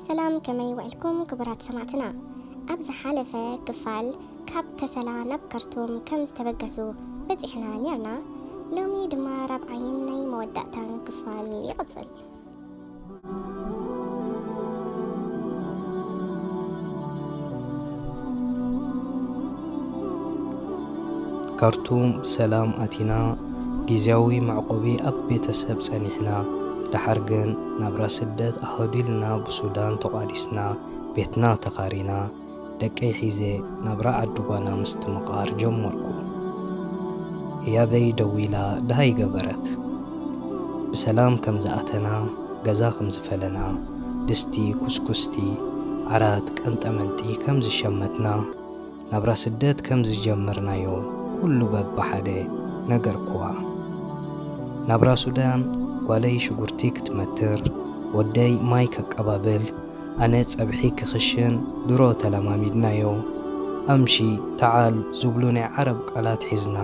ሰላም ከመይ ውዕልኩም ክቡራት ሰማዕትና ኣብ ዝሓለፈ ክፋል ካብ ከሰላ ናብ ካርቱም ከም ዝተበገሱ በጺሕና ኔርና ሎሚ ድማ ራብዓይን ናይ መወዳእታን ክፋል ይቕጽል ካርቱም ብሰላም ኣቲና ግዝያዊ መዕቆቢ ኣብ ቤተሰብ ጸኒሕና። ደሓር ግን ናብራ ስደት ኣሃዱ ኢልና ብሱዳን ተቋዲስና ቤትና ተኻሪና ደቀይ ሒዘ ናብራ ዓዲ ጓና ምስትምቓር ጀመርኩ። ህያበይ ደዊላ ደሃይ ገበረት። ብሰላም ከም ዝኣተና ገዛ ከም ዝፈለና ድስቲ፣ ኩስኩስቲ፣ ዓራት፣ ቀንጠመንጢ ከም ዝሸመትና፣ ናብራ ስደት ከም ዝጀመርናዮ ኩሉ በብሓደ ነገርኩዋ። ናብራ ሱዳን፣ ጓለይ ሽጉርቲ ክትመትር፣ ወደይ ማይ ከቀባብል፣ ኣነ ጸብሒ ክኽሽን ድሮ ተለማሚድናዮ። ኣምሺ፣ ተዓል ዝብሉ ናይ ዓረብ ቃላት ሒዝና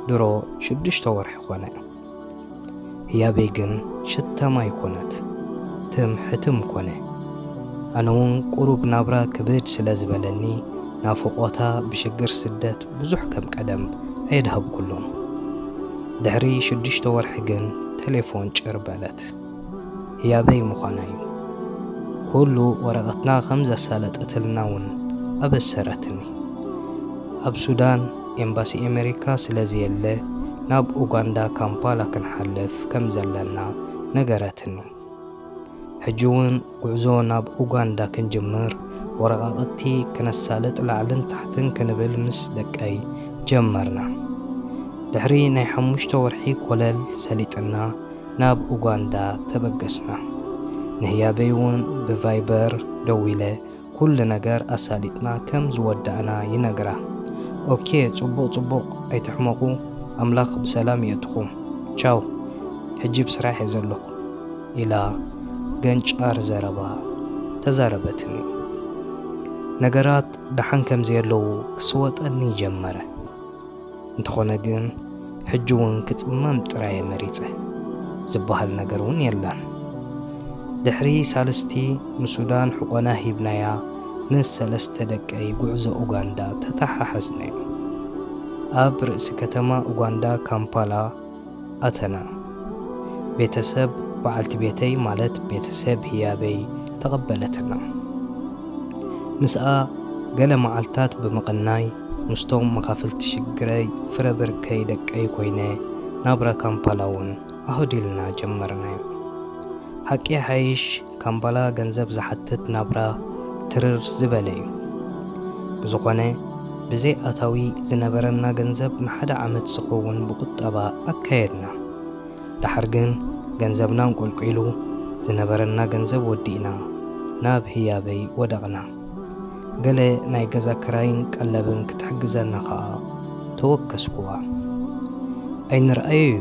ድሮ ሽዱሽተ ወርሒ ኮነ። ህያበይ ግን ሽታ ማይ ኮነት፣ ትም ሕትም ኮነ። ኣነ'ውን ቁሩብ ናብራ ክብድ ስለ ዝበለኒ፣ ናፍቖታ ብሽግር ስደት ብዙሕ ከም ቀደም ኣየድሃብኩሉን። ድሕሪ ሽዱሽተ ወርሒ ግን ተሌፎን ጭር በለት። ህያበይ ምዃና እዩ። ኩሉ ወረቐትና ከም ዘሳለጠትልና እውን ኣበሰረትኒ። ኣብ ሱዳን ኤምባሲ ኣመሪካ ስለ ዘየለ ናብ ኡጋንዳ ካምፓላ ክንሓልፍ ከም ዘለና ነገረትኒ። ሕጂ እውን ጉዕዞ ናብ ኡጋንዳ ክንጅምር ወረቓቕቲ ክነሳልጥ ላዕልን ታሕትን ክንብል ምስ ደቀይ ጀመርና። ድሕሪ ናይ ሓሙሽተ ወርሒ ኮለል ሰሊጥና ናብ ኡጋንዳ ተበገስና። ንህያበይ እውን ብቫይበር ደዊለ ኩሉ ነገር ኣሳሊጥና ከም ዝወዳእና ይነግራ። ኦኬ ጽቡቕ ጽቡቕ ኣይትሕመቑ ኣምላኽ ብሰላም የእትኹም ቻው ሕጂ ብስራሕ እየ ዘለኹ ኢላ ገንጫር ዘረባ ተዛረበትኒ። ነገራት ደሓን ከም ዘየለዉ ክስወጠኒ ጀመረ። እንተኾነ ግን ሕጂ እውን ክጽመም ጥራየ መሪጸ ዝበሃል ነገር እውን የለን። ድሕሪ ሳልስቲ ንሱዳን ሕቆና ሂብናያ ምስ ሰለስተ ደቀይ ጉዕዞ ኡጋንዳ ተተሓሓዝናዮ። ኣብ ርእሲ ከተማ ኡጋንዳ ካምፓላ ኣተና። ቤተሰብ በዓልቲ ቤተይ ማለት ቤተሰብ ህያበይ ተቐበለትና። ምስኣ ገለ መዓልታት ብምቕናይ ምስቶም መኻፍልቲ ሽግረይ ፍረ ብርከይ ደቀይ ኮይነ ናብራ ካምፓላ'ውን ኣሁዲልና ጀመርናዮ። ሓቂ ይሓይሽ ካምባላ ገንዘብ ዝሓትት ናብራ ትርር ዝበለ እዩ። ብዝኾነ ብዘይ ኣታዊ ዝነበረና ገንዘብ ንሓደ ዓመት ዝኸውን ብቁጠባ ኣካየድና። ደሓር ግን ገንዘብና ኣንቆልቊሉ ዝነበረና ገንዘብ ወዲእና ናብ ህያበይ ወደቕና። ገለ ናይ ገዛ ክራይን ቀለብን ክትሕግዘና ከኣ ተወከስኩዋ። ኣይንርኣዮ'ዩ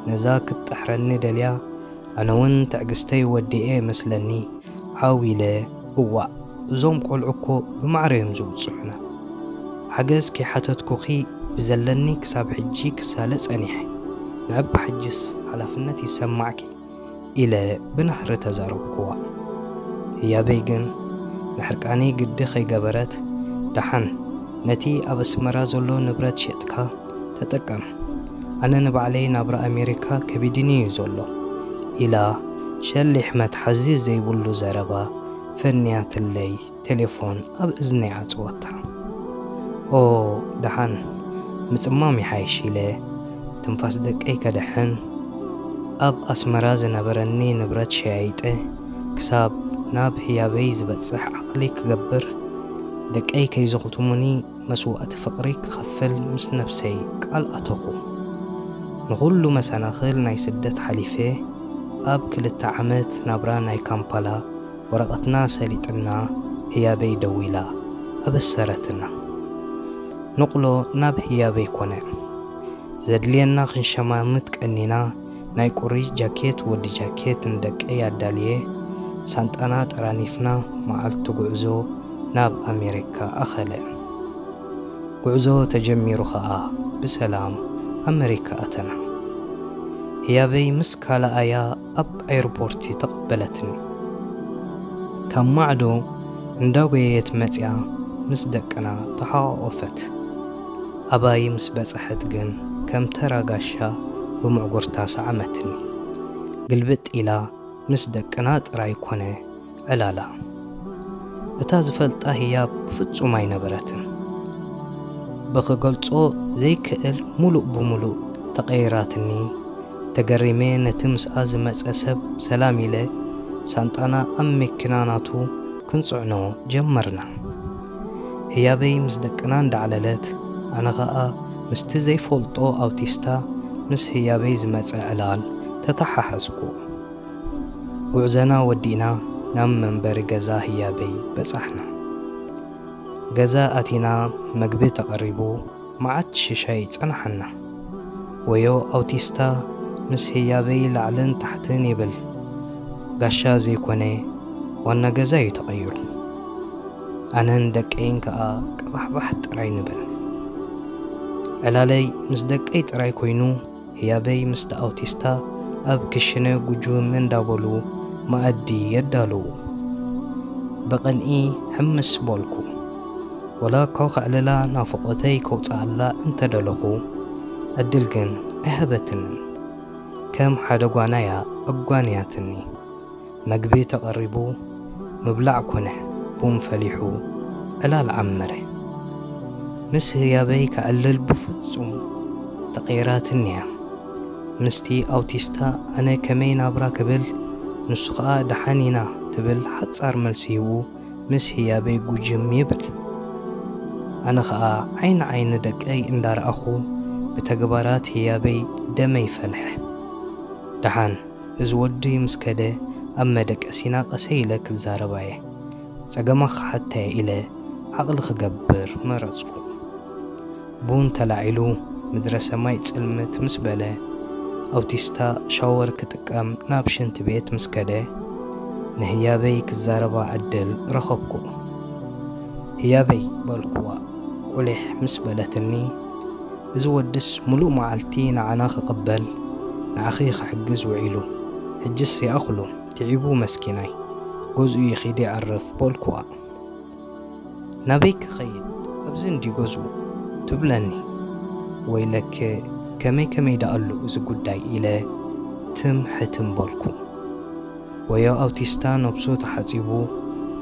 ነዛ ክትጥሕረኒ ደልያ ኣነ ውን ትዕግስተይ ወዲኤ መስለኒ ዓው ኢለ እዋእ እዞም ቆልዑ እኮ ብማዕረ እዮም ዘውጽዑና ሓገዝ ከይሓተትኩኺ ብዘለኒ ክሳብ ሕጂ ክሳለ ጸኒሐ ንዕባ ሕጂስ ሓላፍነት ይሰማዕኪ ኢለ ብናህሪ ተዛረብኩዋ ህያበይ ግን ንሕርቃነይ ግዲ ከይገበረት ደሓን ነቲ ኣብ ኣስመራ ዘሎ ንብረት ሸጥካ ተጠቀም ኣነ ንባዕለይ ናብራ ኣሜሪካ ከቢድኒ እዩ ዘሎ ኢላ ሸሊሕ መትሓዚ ዘይብሉ ዘረባ ፈንያትለይ ቴሌፎን ኣብ እዝነይ ዓጽወታ። ኦ ደሓን ምጽማም ይሓይሽ ኢለ ትንፋስ ደቀይ ከድሕን ኣብ ኣስመራ ዝነበረኒ ንብረት ሸያይጠ ክሳብ ናብ ህያበይ ዝበጽሕ ዓቕሊ ክገብር ደቀይ ከይዝኹትሙኒ መስዋእቲ ፍቕሪ ክኸፍል ምስ ነብሰይ ቃል ኣተኹ። ንኹሉ መሰናኽል ናይ ስደት ሓሊፈ ኣብ ክልተ ዓመት ናብራ ናይ ካምፓላ ወረቐትና ሰሊጥና ህያበይ ደዊላ ኣበሰረትና። ንቕሎ ናብ ህያበይ ኮነ። ዘድልየና ክንሸማምት ቀኒና። ናይ ቁሪ ጃኬት ወዲ ጃኬት ንደቀይ ኣዳልየ ሳንጣና ጠራኒፍና መዓልቱ ጉዕዞ ናብ ኣሜሪካ ኣኸለ። ጉዕዞ ተጀሚሩ ከኣ ብሰላም ኣመሪካ ኣተና። ህያበይ ምስ ካልኣያ ኣብ ኣይርፖርቲ ተቐበለትኒ። ካብ ማዕዶ እንዳጎየየት መጺኣ ምስ ደቅና ተሓቛቖፈት። ኣባይ ምስ በጽሐት ግን ከም ተራ ጋሻ ብምዕጉርታ ሰዓመትኒ። ግልብጥ ኢላ ምስ ደቅና ጥራይ ኮነ ዕላላ። እታ ዝፈልጣ ህያብ ብፍጹም ኣይነበረትን። ብኽገልጾ ዘይክእል ምሉእ ብምሉእ ተቐይራትኒ። ተገሪመ ነቲ ምስኣ ዝመጸ ሰብ ሰላም ኢለ ሳንጣና ኣብ መኪና ናቱ ክንጽዕኖ ጀመርና። ህያበይ ምስ ደቅና እንዳዕለለት ኣነ ኸኣ ምስቲ ዘይፈልጦ ኣውቲስታ ምስ ህያበይ ዝመጸ ዕላል ተተሓሓዝኩ። ጉዕዘና ወዲእና ናብ መንበሪ ገዛ ህያበይ በጻሕና። ገዛ ኣቲና መግቢ ተቐሪቡ። መዓት ሽሻይ ጸናሓና። ወዮ ኣውቲስታ ምስ ህያበይ ላዕልን ታሕትን ይብል ጋሻ ዘይኮነ ዋና ገዛ ዩ ተቀይሩ ኣነን ደቀይን ከኣ ቀባሕባሕ ጥራይ ንብል ዕላለይ ምስ ደቀይ ጥራይ ኮይኑ ህያበይ ምስቲ ኣውቲስታ ኣብ ክሽነ ጉጁም እንዳበሉ መኣዲ የዳልዉ። ብቕንኢ ሕምስ በልኩ። ወላ እኳ ከዕልላ ናፍቖተይ ከውጽኣላ እንተ ደለኹ፣ ዕድል ግን ኣይሃበትንን። ከም ሓደ ጓና'ያ ኣጓንያትኒ። መግቢ ተቐሪቡ ምብላዕ ኮነ። ቡን ፈሊሑ ዕላል ዓመረ። ምስ ህያበይ ከዕልል ብፍጹም ተቐይራትኒ'ያ። ምስቲ ኣውቲስታ ኣነ ከመይ ናብራ ክብል ንሱ ከኣ ደሓን ኢና ትብል ሓጻር መልሲ ሂቡ ምስ ህያበይ ጉጅም ይብል። ኣነ ከኣ ዓይኒ ዓይኒ ደቀይ እንዳረኣኹ ብተግባራት ህያበይ ደመይ ፈልሐ። ደሓን! እዚ ወዲ ምስ ከደ ኣብ መደቀሲና ቀሰይ ኢለ ክዛረብ ኣየ ጸገማ ክሓት ኣየ ኢለ ዓቕሊ ክገብር መረጽኩ። ቡን ተላዒሉ ምድረ ሰማይ ጽልምት ምስ በለ ኣውቲስታ ሻወር ክጥቀም ናብ ሽንቲ ቤት ምስ ከደ ንህያበይ ክዛረባ ዕድል ረኸብኩ። ህያበይ በልኩዋ ቁሊሕ ምስ በለትኒ። እዚ ወድስ ሙሉእ መዓልቲ ንዓና ክቅበል ንዓኺ ክሕግዝ ውዒሉ ሕጅስ ይኣኽሎ ትዒቡ መስኪናይ ገዝኡ ይኺድ ይዕርፍ በልኩዋ ናበይ ክኸይድ ኣብዚ እንድዩ ገዝኡ ትብለኒ ወይለክ ከመይ ከመይ ደኣሉ እዚ ጉዳይ ኢለ ትም ሕትም በልኩ ወዮ ኣውቲስታ ነብሱ ተሓጺቡ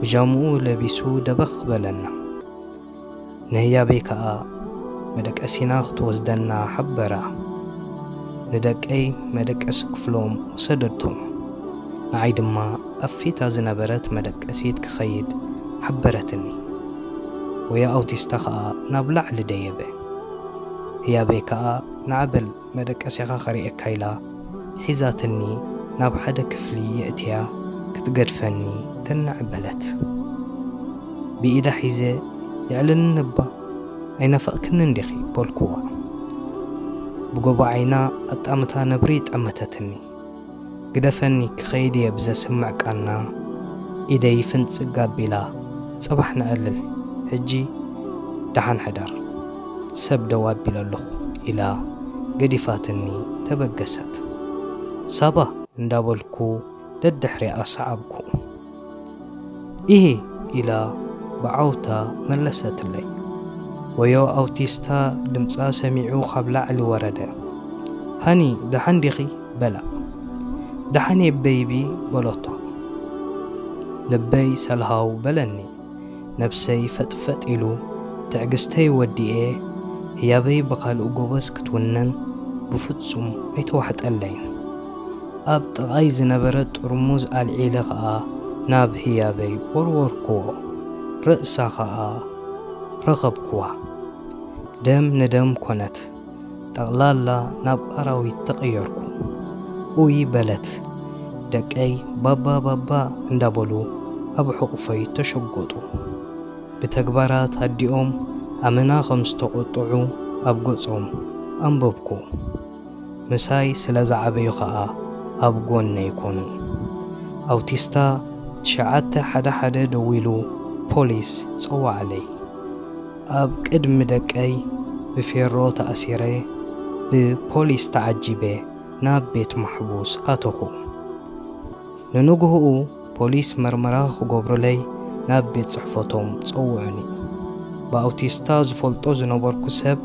ብጃምኡ ለቢሱ ደበኽ በለና። ንህያበይ ከኣ መደቀሲና ክትወስደና ሓበራ። ንደቀይ መደቀሲ ክፍሎም ወሰደቶም። ንዓይ ድማ ኣብ ፊታ ዝነበረት መደቀሲት ክኸይድ ሓበረትኒ። ወያ ኣውቲስታ ከኣ ናብ ላዕሊ ደየበ። ህያበይ ከኣ ንዓበል። መደቀሲኻ ከርእየካ ኢላ ሒዛትኒ ናብ ሓደ ክፍሊ የእትያ ክትገድፈኒ ትንዕ በለት። ብኢዳ ሒዘ የዕልልኒ'ባ ኣይናፈቕክንን ዲኺ በልኩዋ። ብጎቦ ዓይና ኣጣምታ ነብሪ ጠመተትኒ። ግደፈኒ ክኸይድ እየ ብዘስምዕ ቃና ኢደይ ፍንጽግ ኣቢላ ጽባሕ ነዕልል ሕጂ ደሓን ሕደር ሰብ ደው ኣቢለ ኣለኹ ኢላ ገዲፋትኒ ተበገሰት። ሳባ እንዳበልኩ ደድሕሪኣ ሰዓብኩ። እየ ኢላ ብዓውታ መለሰትለይ። ወዮ ኣውቲስታ ድምጻ ሰሚዑ ካብ ላዕሊ ወረደ። ሃኒ ደሓን ዲኺ? በላ። ደሓን'የ በይቢ በሎቶ። ልበይ ሰልሃው በለኒ። ነብሰይ ፈጥፈጥ ኢሉ ትዕግስተይ ወዲኤ ህያበይ ብኻልእ ጎበዝ ክትውንን ብፍጹም ኣይተዋሕጠለይን። ኣብ ጥቓይ ዝነበረት ጥርሙዝ ኣልዒለ ኸኣ ናብ ህያበይ ወርወርክዎ። ርእሳ ኸኣ ረኸብክዋ። ደም ንደም ኮነት። ጠቕላላ ናብ ኣራዊት ተቐየርኩ ኡይ በለት። ደቀይ ባባ ባባ እንዳበሉ ኣብ ሕቑፈይ ተሸጎጡ። ብተግባራት ኣዲኦም ኣመና ከም ዝተቖጥዑ ኣብ ገጾም ኣንበብኩ። ምሳይ ስለ ዝዓበዩ ከኣ ኣብ ጎነይ ኮኑ። ኣውቲስታ ትሽዓተ ሓደ ሓደ ደዊሉ ፖሊስ ጸወዓለይ። ኣብ ቅድሚ ደቀይ ብፌሮ ተኣሲረ ብፖሊስ ተዓጂበ ናብ ቤት ማሕቡስ ኣተኹ። ንንጉሆኡ ፖሊስ መርመራ ክገብሩለይ ናብ ቤት ጽሕፈቶም ጸውዑኒ። ብኣውቲስታ ዝፈልጦ ዝነበርኩ ሰብ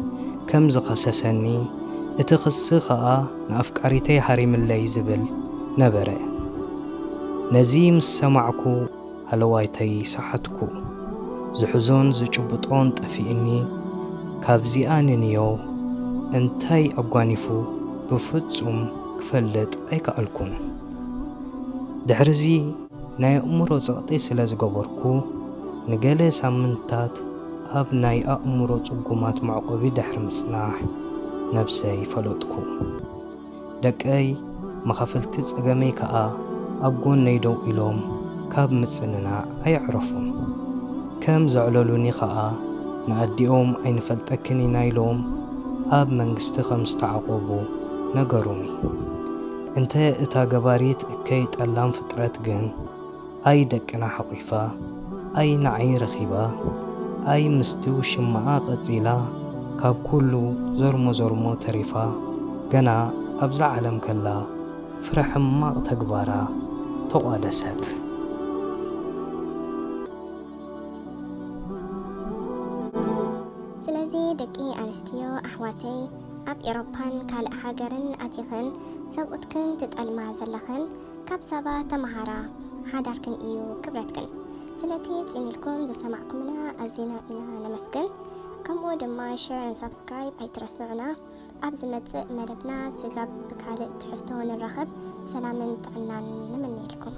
ከም ዝኸሰሰኒ፣ እቲ ክሲ ከኣ ንኣፍቃሪተይ ሃሪምለይ ዝብል ነበረ። ነዚ ምስ ሰማዕኩ። ሃለዋይተይ ሰሓትኩ ዝሕዞን ዝጭብጦን ጠፊእኒ ካብዚኣ ንንዮ እንታይ ኣጓኒፉ ብፍጹም ክፈልጥ ኣይከኣልኩን ድሕሪዚ ናይ ኣእምሮ ጸቕጢ ስለ ዝገበርኩ ንገለ ሳምንታት ኣብ ናይ ኣእምሮ ጽጉማት መዕቆቢ ድሕሪ ምጽናሕ ነብሰይ ፈለጥኩ። ደቀይ መኻፍልቲ ጸገመይ ከኣ ኣብ ጎነይ ደው ኢሎም ካብ ምጽንናዕ ኣየዕረፉን። ከም ዘዕለሉኒ ከኣ ንኣዲኦም ኣይንፈልጠክን ኢና ኢሎም ኣብ መንግስቲ ከም ዝተዓቖቡ ነገሩኒ። እንተ እታ ገባሪት እከይ ጠላም ፍጥረት ግን፣ ኣይ ደቅና ሓቂፋ ኣይ ንዓይ ረኪባ ኣይ ምስቲ ውሽማኣ ቀጺላ ካብ ኩሉ ዞርሞ ዞርሞ ተሪፋ ገና ኣብዛ ዓለም ከላ ፍረ ሕማቅ ተግባራ ተቋደሰት። ስለዚ ደቂ ኣንስትዮ ኣሕዋተይ ኣብ ኤሮፓን ካልእ ሃገርን ኣቲክን ሰብኡትክን ትጠልማ ዘለክን ካብ ሳባ ተማሃራ ሓዳርክን እዩ ክብረትክን። ስለቲ ጽን ኢልኩም ዝሰማዕኩምና ኣዚና ኢና ነመስግን። ከምኡ ድማ ሸር ን ሳብስክራይብ ኣይትረስዑና። ኣብ ዝመጽእ መደብና ስጋብ ብካልእ ትሕዝቶ ንራኸብ ሰላምን ጥዕናን ንምነየልኩም።